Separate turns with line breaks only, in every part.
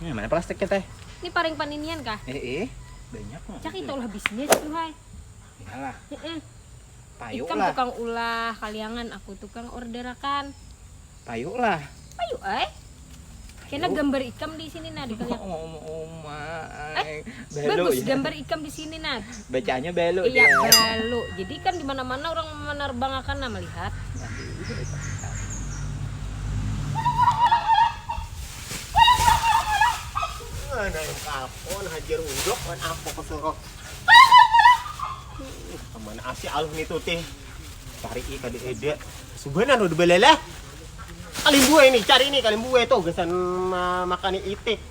Ini mana plastiknya teh? Ini paring paninian kah? Eh, eh. banyak mah. Cak itu lah bisnis tuh hai. Iyalah. Heeh. Payuk Ikam lah. tukang ulah kaliangan, aku tukang orderakan. Payuk lah. Payuk eh. Kena gambar ikam di sini nah di kaliangan. Oh, oh, oh, oh, Bagus gambar ikam di sini nah. Bacanya balu. Iya balu. Jadi kan di mana-mana orang menerbangakan nah melihat. Mana yang kapon hajar undok kan apa kesuruh. Kemana asih aluh nih tuh teh. Cari i kada ada. Subanan udah belalah. Kalimbue ini, cari ini kalimbue tuh gesan makan itik.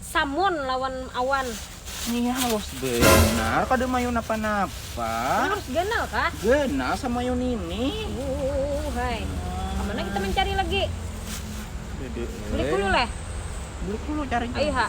Samun lawan awan. Inya halus banar kada mayu napa-napa. Halus ganal kah? Ganal samayu nini. Uuuhhai. Kamana kita mancari lagi? Dede. Bulik hulu leh. Bulik hulu carinya. Ayu ha.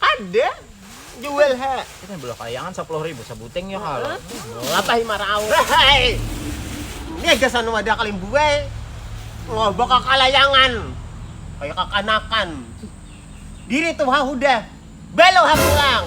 Ada jual ha. Kita belah kayangan sepuluh ribu sebuting ya kalau. Lapah lima raus. Hei. Ini gasan wadah kalian buai. Ngobok kakalayangan. Kayak kakanakan. Diri tuh ha udah. Belo ha pulang.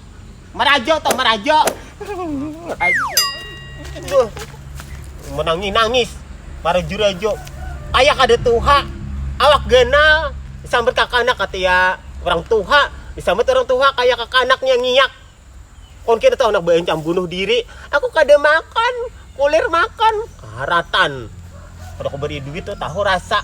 Marajo toh, marajo. Aduh. Menangis nangis. Para jurajo. Ayah kada tuha. Awak ganal. Disambat kakanak katia orang tuha. Disambat orang tuha kayak kakanaknya ngiyak. Kon kira tuh anak bencam bunuh diri. Aku kada makan. Kulir makan. Karatan. Kada kuberi duit tuh tahu rasa.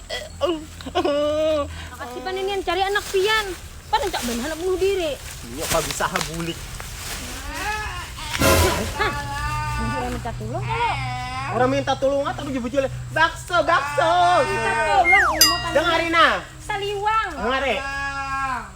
Makasih pan inian cari anak pian. Pan rancak banar handak bunuh diri. Inya pa bisa ha bulik. Bujur ai minta tulung kalo. Orang minta tulung ha tapi dibujur ai bakso bakso. Minta tulung. Dengari nah. Saliwang. Dengari.